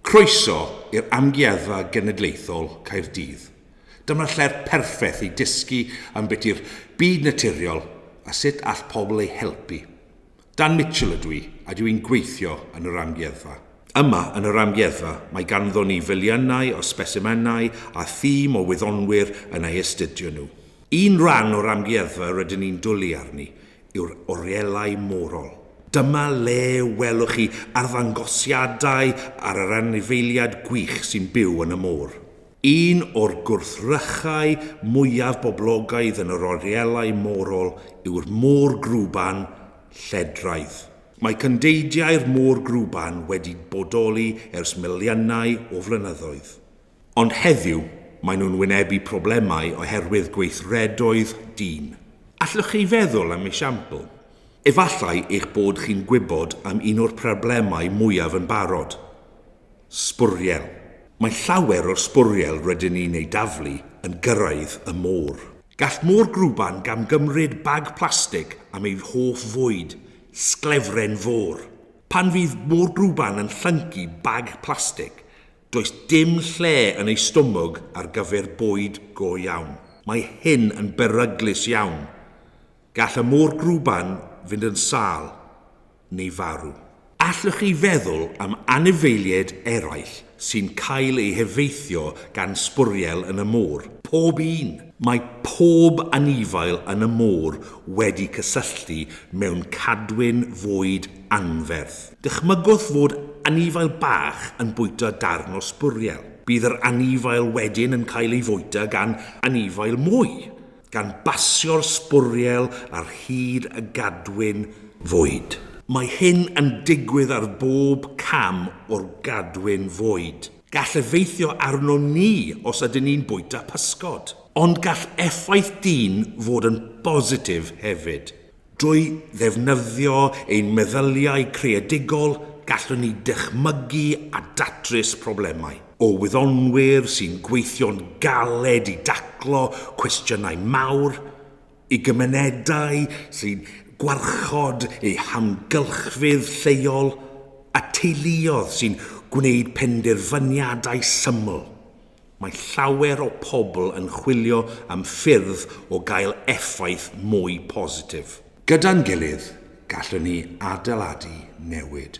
Croeso i'r Amgueddfa Genedlaethol Caerdydd. Dyma'r lle'r perffeth i dysgu am beth yw'r byd naturiol a sut all pobl ei helpu. Dan Mitchell ydw i a dw i'n gweithio yn yr Amgueddfa. Yma yn yr Amgueddfa mae ganddon ni filiynau o sbesimenau a thîm o wyddonwyr yn ei astudio nhw. Un rhan o'r Amgueddfa rydyn ni'n dwlu arni yw'r orielau morol. Dyma le welwch chi arddangosiadau ar yr anifeiliad gwych sy'n byw yn y môr. Un o'r gwrthrychau mwyaf boblogaidd yn yr orielau morol yw'r môr grwban lledraidd. Mae cyndeidiau'r môr grwban wedi bodoli ers miliynau o flynyddoedd. Ond heddiw, maen nhw'n wynebu problemau oherwydd gweithredoedd dyn. Allwch chi feddwl am esiampl? Efallai eich bod chi'n gwybod am un o'r problemau mwyaf yn barod. Sbwriel. Mae llawer o'r sbwriel rydyn ni'n eu daflu yn gyrraedd y môr. Gall môr grwban gamgymryd bag plastig am ei hoff fwyd, sglefren fôr. Pan fydd môr grwban yn llyncu bag plastig, Does dim lle yn ei stomog ar gyfer bwyd go iawn. Mae hyn yn beryglus iawn. Gall y môr grwban fynd yn sâl neu farw. Allwch chi feddwl am anifeiliaid eraill sy'n cael eu heffeithio gan sbwriel yn y môr? Pob un! Mae pob anifail yn y môr wedi cysylltu mewn cadwyn fwyd anferth. Dychmygwch fod anifail bach yn bwyta darn o sbwriel. Bydd yr anifail wedyn yn cael ei fwyta gan anifail mwy, gan basio'r sbwriel ar hyd y gadwyn fwyd. Mae hyn yn digwydd ar bob cam o'r gadwyn fwyd. Gall effeithio arnom ni os ydyn ni'n bwyta pysgod. Ond gall effaith dyn fod yn bositif hefyd. Drwy ddefnyddio ein meddyliau creadigol, gallwn ni ddychmygu a datrys problemau. O wyddonwyr sy'n gweithio'n galed i daclo cwestiynau mawr, i gymunedau sy'n gwarchod eu hamgylchfyd lleol, a teuluoedd sy'n gwneud penderfyniadau syml, Mae llawer o pobl yn chwilio am ffyrdd o gael effaith mwy positif. Gyda'n gilydd, gallwn ni adeiladu newid.